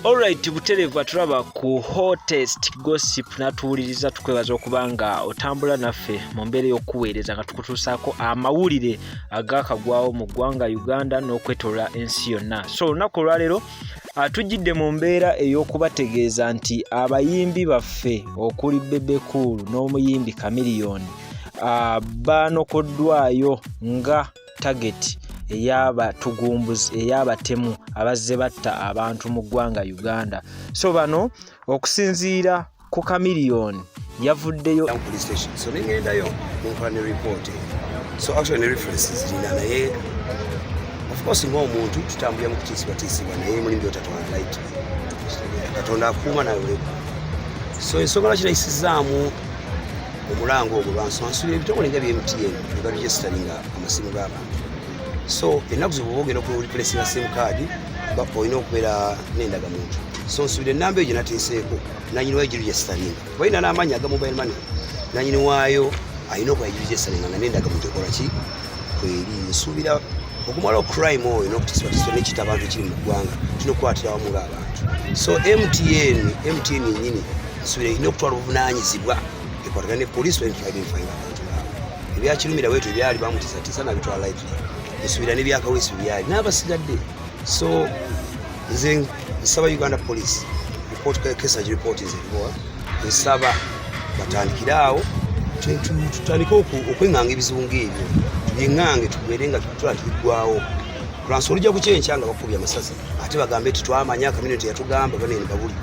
Alright buterevu atulaba ku hottest gossip natuwuliriza tukwebaza okuba nga otambula naffe mu mbeera y'okukuweereza nga tukutuusaako amawulire agakagwawo mu ggwanga Uganda n'okwetolola ensi yonna so olunaku olwaleero atujjidde mu mbeera ey'okubategeeza nti abayimbi baffe okuli Bebe Cool n'omuyimbi Chameleone ah, baanokoddwayo nga tageti eyabatugumbuzi eyabatemu abazze batta abantu mu ggwanga uganda so bano okusinziira ku kamiliyoni yavuddeyo osinga omuntu tutambulira mukutiisibwatiisibwa naye mulimu byotatwala light katonda akuuma nawe so ensonga lwaki nayisizaamu omulanga ogwo lwansansula ebitongole nga byemtn nebaregisteringa amasimu g'abantu so ennaku zibwoba ogenda okulipulesinga sim card olina okubeera n'endagamuntu so nsubira enamba eyo gyenateeseeko nanyini wayo giregisteringa balina n'amaanyi aga mobile money nanyini waayo alina okuba giregisteringa nga n'endagamuntu ekola ki kweri nsuubira okumala ocrime oyo nokutisibwatisibwa nekita abantu ekiri mu ggwanga kino okukwatira wamu ng'abantu so mtn mtn nyini ensubira erina okutwala obuvunaanyizibwa ekwatagana ne poliisi bainfainfaina abantu baabwe ebyakirumira bwetyo byali bamutisatisa nabitwala live ensubira nebyakawesi byali n'abasigadde so nze nsaba uganda poliisi kesa giripooti zeriwa nsaba batandikire awo tutandike okwenganga ebizibu ngaebyo tubyeng'ange tubeere nga tutula tubiggwawo lwansi olujja kukyenkya nga bakubya amasasi ate bagambe ti twamanya kamino teyatugamba banene babuli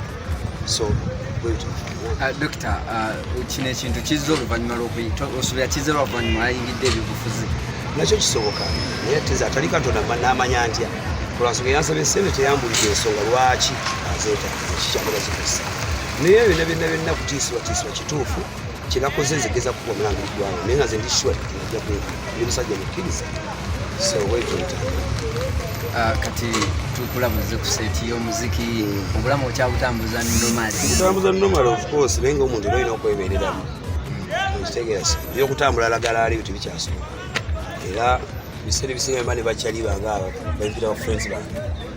so uh, dokita uh, kino ekintu kizza oluvanyuma lwokuosubira kizza oluvanyuma ayingidde ebyobufuzi nakyo kisoboka naye teza atali katonda namanya ntya olwansonga yansaba esente teyambulira ensonga lwaki azeeta kikyamulazikozesa naye byona byona byonna kutiisibwatiisibwa kituufu kyenakoze nze geza kuba omulanga eggwanga naye nga nze ndi sure nja kwega ndi musajja mukkiriza so wekuyita ah, kati tukulabuze ku seti y'omuziki hmm. obulamu okyabutambuza normal butambuza normal of course naye nga omuntu era olina okwebereramu hmm. okitegeera byokutambula alagala aliyo tebikyasobola era biseera ebisinga mba ne bakyali bange abo bampira ba friends bange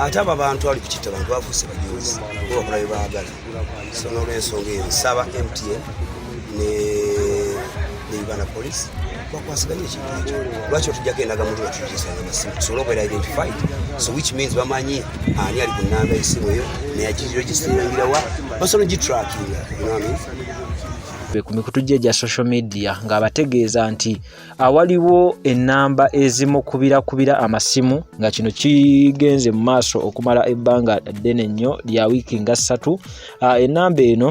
ate abo abantu ali kukitta bantu bafuuse bajuuzi bakola bye baagala so nolwensonga eyo nsaba mtn ne uganda police bakwasiganya ekintu ekyo lwaki otujjako endaga mutu batujisanga amasimu tusobole okubeera identified so which means bamanyi ani ali ku namba esimu eyo neyagiregisteringirewa basobola ogitrackinga ku mikutu gye egya social media ng'abategeeza nti awaliwo ennamba ezimukubirakubira amasimu nga kino kigenze mu maaso okumala ebbanga ddene nnyo lya wiiki nga ssatu ah, ennamba eno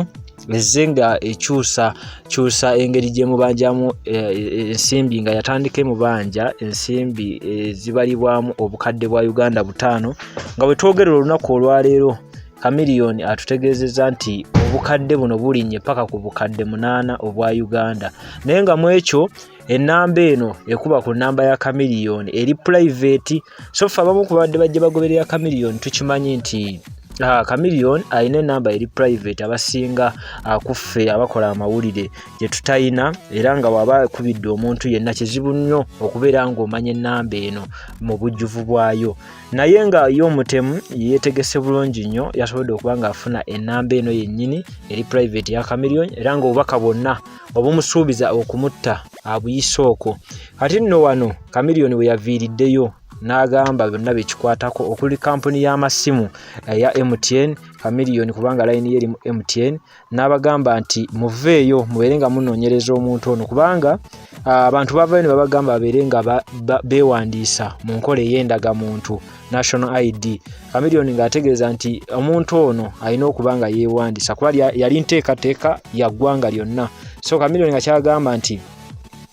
ezze nga ekyusa kyusa engeri gyemubanjamu eh, eh, ensimbi nga yatandika emubanja ensimbi ezibalibwamu eh, obukadde bwa uganda butaano nga bwetwogerera olunaku olwaleero Chameleone atutegeezezza nti obukadde buno bulinnye paka ku bukadde munaana obwa Uganda naye nga mu ekyo ennamba eno ekuba ku nnamba ya Chameleone eri pulaiveeti so ffe abamu ku babadde bajja bagoberera Chameleone tukimanyi nti Ah, Chameleon alina enamba eri private abasinga ah, kuffe abakola amawulire gye tutayina era nga waba akubidde omuntu yenna kizibu nnyo okubeera ng'omanya enamba eno mu bujjuvu bwayo naye nga ye omutemu yetegese bulungi nnyo yasobodde okuba nga afuna enamba eno yennyini eri private ya camilion era nga obubaka bwonna obumusuubiza okumutta abuyise okwo kati nno wano camilion we yaviiriddeyo n'agamba byonna byekikwatako okuli kampuni y'amasimu eya mtn camilion kubanga layini ye eri mu mtn n'abagamba nti muveeyo mubeere nga munoonyereza omuntu ono kubanga ah, abantu bavayo ne babagamba babeere nga beewandiisa mu nkola ey'endagamuntu national id kamiliyoni ng'ategeeza nti omuntu ono alina okuba nga yeewandiisa kuba yali nteekateeka ya ggwanga lyonna so kamiliyoni nga kyagamba nti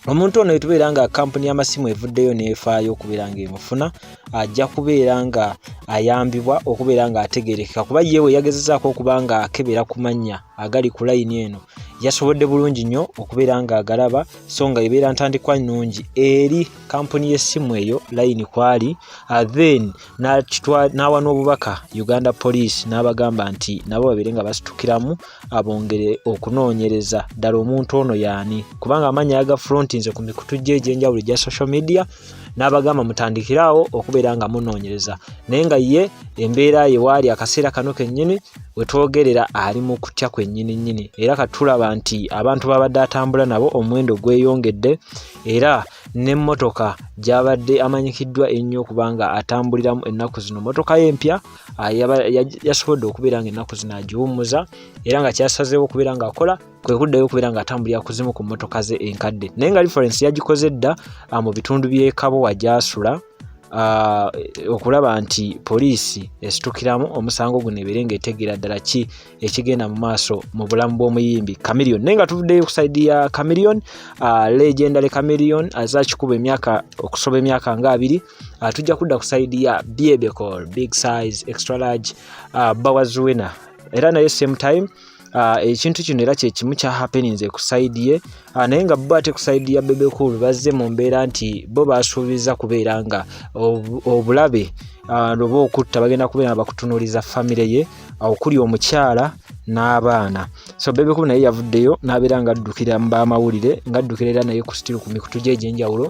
omuntu ono etubeera nga kampuni y'amasimu evuddeyo n'efaayo okubeera ng'emufuna ajja kubeera nga ayambibwa okubeera nga ategerekeka kuba ye we yagezezaako okuba nga akebera ku mannya agali ku layini eno yasobodde bulungi nnyo okubeera nga agalaba so nga ebeera ntandikwa nnungi eri kampuni y'essimu eyo layini kwali uh, then n'awa n'obubaka uganda police n'abagamba nti nabo babeere nga basitukiramu abongere okunoonyereza ddala omuntu ono yaani kubanga amannya yagafrontinze ku mikutu gye egyenjawulo egya social media n'abagamba mutandikire awo okubeera nga munoonyereza naye nga ye embeera ye waali akaseera kano kennyini we twogerera ali mu kutya kwennyini nnyini era katulaba nti abantu babadde atambula nabo omuwendo gweyongedde era n'emmotoka gyabadde amanyikiddwa ennyo okuba nga atambuliramu ennaku zino mmotoka ye empya ah, yasobodde okubeera nga ennaku zino agiwummuza era nga kyasazeewo okubeera ng'akola kwe kuddayo okubeera ng'atambulira ku zimu ku mmotoka ze enkadde naye nga reference yagikoze dda ah, mu bitundu by'ekabo wagyasula ah, okulaba nti poliisi esitukiramu omusango guno ebeere ng'etegeera ddala ki ekigenda mu maaso mu bulamu bw'omuyimbi camilion naye nga tuvuddeyo ku saidi ya camilion ah, legendary camilion aza kikuba emyaka okusoba emyaka nga abiri tujja kudda ku saidi ya biebecol big size extra large bawazuwena era naye same time Ah, ekintu kino era kyekimu kya happenings ku side ye ah, naye nga bo ate ku side ya bebe cool bazze mu mbeera nti bo basuubiza kubeera nga obulabe ah, oba okutta bagenda kubeera nga bakutunuliza famire ye okuli omukyala n'abaana so bebe cool naye yavuddeyo n'abeera nga addukira mu bamawulire nga addukira era naye ku sitiru ku mikutu gye egy'enjawulo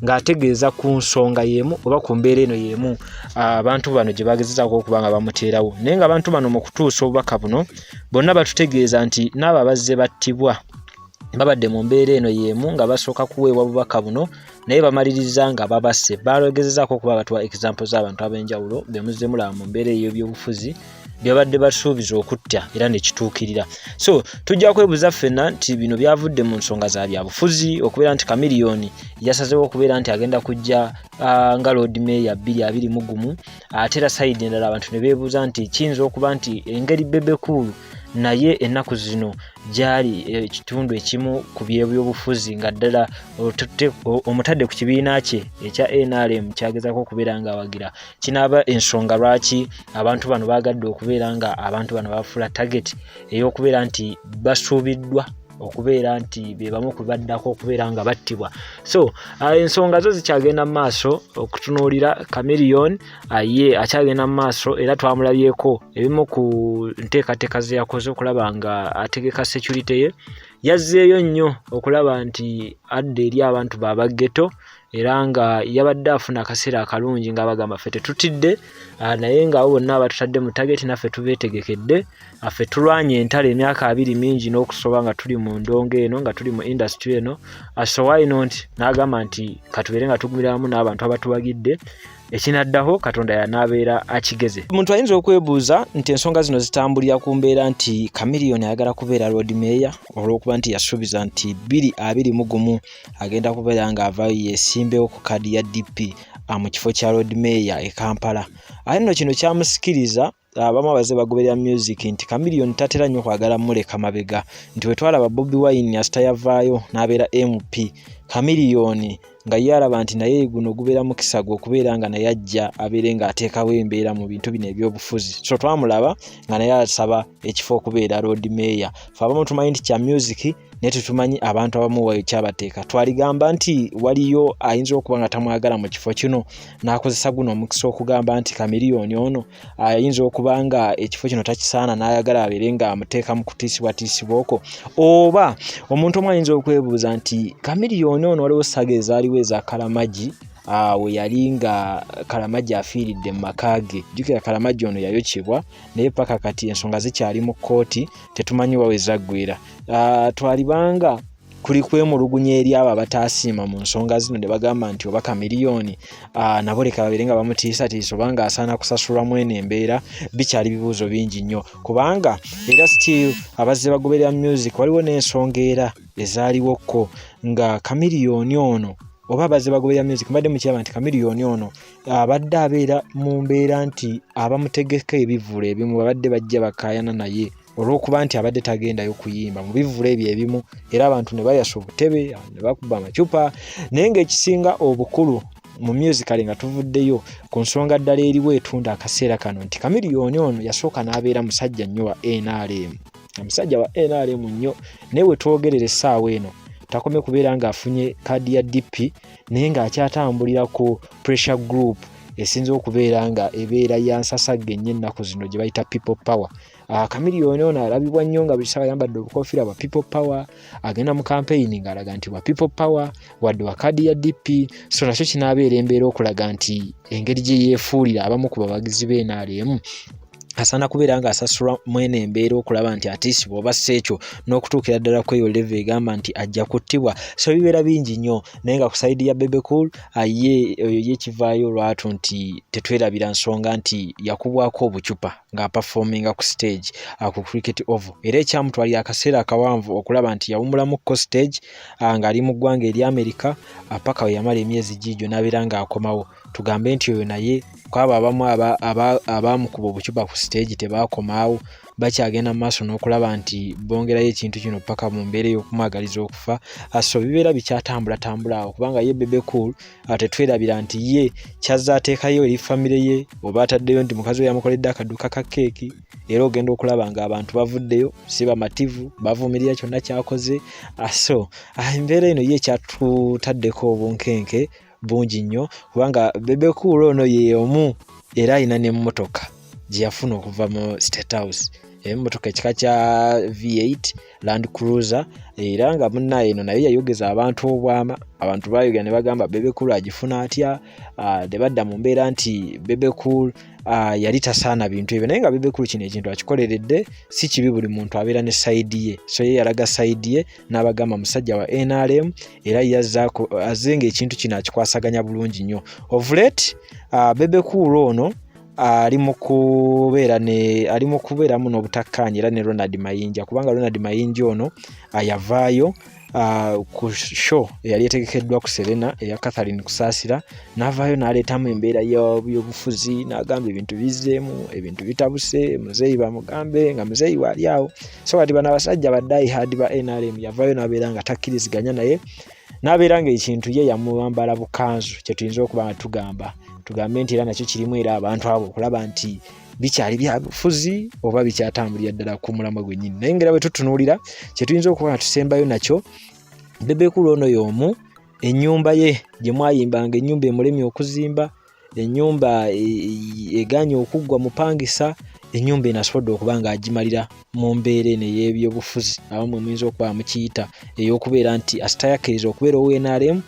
ng'ategeeza ku nsonga y'emu oba ku mbeera eno y'emu abantu bano gye bagezezaako okuba nga bamuteerawo naye ng'abantu bano mu kutuusa obubaka buno bonna batutegeeza nti n'abo abazze battibwa babadde mu mbeera eno y'emu nga basooka kuweebwa bubaka buno naye bamaliriza nga babasse baalogezezaako okuba batuwa example z'abantu ab'enjawulo bemuzzemulaba mu mbeera ey'ebyobufuzi byabadde basuubiza okutta era nekituukirira so tujja kwebuza ffena nti bino byavudde mu nsonga za byabufuzi okubeera nti kamiliyoni yasazewo okubeera nti agenda kujja uh, nga lord meya 22 mu gumu ate era sayidi endala abantu ne beebuuza nti kiyinza okuba nti engeri bebekuulu naye ennaku zino gyali eh, ekitundu ekimu ku byebyobufuzi nga ddala omutadde ku kibiina kye ekya nrm kyagezako okubeera ngaawagira kinaaba ensonga lwaki abantu bano baagadde okubeera nga abantu bano bafuula target ey'okubeera nti basuubiddwa okubeera nti bebamu kubaddako okubeera nga battibwa so uh, ensonga zo zikyagenda mu maaso okutunuulira camilion uh, ye akyagenda mu maaso era twamulabyeko ebimu ku nteekateeka ze yakoze okulaba nga ategeka security ye yazzeeyo nnyo okulaba nti adda eri abantu baabaggeto era nga yabadde afuna akaseera akalungi nga bagamba ffe tetutidde ah, naye nga abo bonna abatutadde mu tageti naffe tubeetegekedde ah, ffe tulwanye entalo emyaka abiri mingi n'okusoba nga tuli mu ndongo eno nga tuli mu indasitry eno ah, so why not n'agamba nti katubeere nga tugumira wamu n'abantu abatuwagidde ekinaddaho katonda yanaabeera akigeze omuntu ayinza okwebuuza nti ensonga zino zitambulira ku mbeera nti kamiliyoni ayagala kubeera lord meeya olw'okuba nti yasuubiza nti bbiri abiri mu gumu agenda kubeera ng'avayo yesimbewo ku kaadi ya dp ah, mu kifo kya lord mayor e kampala ate nno kino kyamusikiriza abamu ah, abaze bagoberera music nti kamiliyoni tatera nnyo kwagala muleka mabega nti wetwalaba bobi wine asita yavaayo n'abeera mp kamiliyoni nga ye alaba nti naye guno gubeera mukisa gwe okubeera nga naye ajja abeere ng'ateekawo embeera mu bintu bino ebyobufuzi so twamulaba nga naye asaba ekifo okubeera road mayor fe abamu tumanyi nti kya music naye tetumanyi abantu abamu kyabateeka twaligamba nti waliyo ayinza okuba nga tamwagala mu kifo kino n'akozesa guno omukisa okugamba nti kamiriyoni ono ayinza okuba nga ekifo kino takisaana n'ayagala abeere nga amuteeka mu kutiisibwatiisibwa okwo oba omuntu omu ayinza okwebuuza nti kamiriyoni ono waliwo saga ezaaliwo eza kalamagi awo yali nga kalamagi afiiridde mu maka ge jjukira kalamagi ono yayokyebwa naye paka kati ensonga zikyali mu kkooti tetumanyi wawe zaggwera ah, twalibanga kuli kwemulugunya eri abo abatasiima mu nsonga zino ne bagamba nti oba kamiliyoni ah, nabo leka babeere nga bamutiisatiisa oba nga asaana kusasulwa mu eno embeera bikyali bibuuzo bingi nnyo kubanga era still abazze bagoberera music waliwo n'ensonga era ezaliwokko nga kamiliyoni ono oba abazze bagoberera music mbadde mukiraba nti kamiliyoni ono abadde abeera mu mbeera nti abamutegeka ebivvulu ebimu babadde bajja bakayana naye olw'okuba nti abadde tagendayo kuyimba mu bivvula ebyo ebimu era abantu ne bayasa obutebe ne bakuba amacupa naye ng'ekisinga obukulu mu musicale nga tuvuddeyo ku nsonga ddala eriwo etunda akaseera kano nti kamiliyoni ono yasooka n'abeera musajja nnyo wa nrm omusajja wa nrm nnyo naye wetwogerera essaawa eno takomye kubeera ng'afunye kaadi ya dp naye ng'akyatambulira ku pressure group esinza okubeera nga ebeera ya nsasagga ennyo ennaku zino gye bayita people power Ah, Chameleone ono alabibwa nnyo nga buli ssaawa ayambadde obukofiira bwa people power agenda mu kampeyini ng'alaga nti bwa people power wadde wa kaadi ya dp so nakyo kinaabeera embeera okulaga nti engeri gye yeefuulira abamu ku bawagizi be nrm asaana kubeera nga asasulwa mwene embeera okulaba nti atiisibwa oba si ekyo n'okutuukira ddala ku eyo leve egamba nti ajja kuttibwa so bibeera bingi nnyo naye nga ku saidi ya bebecool ye oyo ye kivaayo olwatu nti tetwerabira nsonga nti yakubwako obucupa ng'apafominga ku siteegi ah, ku cricket oval era ekyamutwalira akaseera akawanvu okulaba nti yawumulamuko siteegi ah, ng'ali mu ggwanga eri amerika ah, paka we yamala emyezi giigyo n'abeera ng'akomawo tugambe nti oyo naye kwabo abamu abaamukuba obucupa ku siteegi tebaakomaawo bakyagenda mu maaso n'okulaba nti bongerayo ekintu kino paka mu mbeera ey'okumwagaliza okufa so bibeera bikyatambula tambula awo kubanga ye bebecool ate twerabira nti ye kyazza ateekayo eri famire ye oba ataddeyo nti mukazi we yamukoledde akaduuka ka keeki era ogenda okulaba nga abantu bavuddeyo si bamativu bavumirira kyonna kyakoze ah, so ah, embeera eno ye ekyatutaddeko obunkenke bungi nnyo kubanga bebekuula ono ye omu era alina n'emmotoka gye yafuna okuva mu state house emotoka ekika kya v8 Land Cruiser era nga munnaye eno naye yayogeza abantu obwama abantu bayogera ne bagamba Bebe Cool agifuna atya ah, ne badda mu mbeera nti Bebe Cool ah, yali tasaana bintu ebyo naye nga Bebe Cool kino ekintu akikoleredde si kibi buli muntu abeera ne sayidi ye so ye yalaga sayidi ye n'abagamba musajja wa NRM era yazzaako azze ng'ekintu kino akikwasaganya bulungi nnyo ovulet ah, Bebe Cool ono ali mu kubeera ne ali mu kubeeramu n'obutakkaanya era ne Ronald Mayinja kubanga Ronald Mayinja ono ayavaayo Uh, ku show eyali etegekeddwa ku serena eya catherine kusaasira n'avaayo n'aleetamu embeera y'obuyobufuzi n'agamba ebintu bizzeemu ebintu bitabuse muzeeyi bamugambe nga muzeeyi waali awo so kati bano abasajja baddayi haadi ba nrm yavaayo n'abeera nga takkiriziganya naye n'abeera ng'ekintu ye yamubambala bukanzu kye tuyinza okuba nga tugamba tugambe nti era nakyo kirimu era abantu abo okulaba nti bikyali byabufuzi oba bikyatambulira ddala ku mulamwa gwennyini naye ngaera bwe tutunuulira kye tuyinza okuba nga tusembayo nakyo bebekulu ono y'omu ennyumba ye gye mwayimbanga ennyumba emulemye okuzimba enyumba e, e, eganye okuggwa mupangisa enyumba eno asobodde okuba nga agimalira mu mbeera eno ey'ebyobufuzi abamwe muyinza okuba mukiyita ey'okubeera nti asitayakiriza okubeera ownrm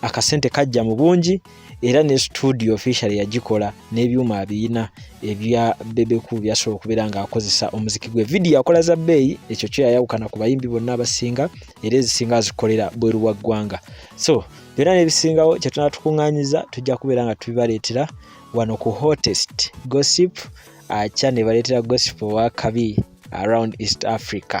akasente kajja mu bungi era ne studio official yagikola n'ebyuma abiyina ebya bebeku byasobola okubeera ng'akozesa omuziki gwe vidiyo akola za bbeeyi ekyo kyo yayawukana ku bayimbi bonna abasinga era ezisinga azikolera bweru wa ggwanga so byonna n'ebisingawo kye tunaba tukuŋŋanyiza tujja kubeera nga tubibaleetera wano ku hotest gossip akya ne baleetera gossip owa kabi around east africa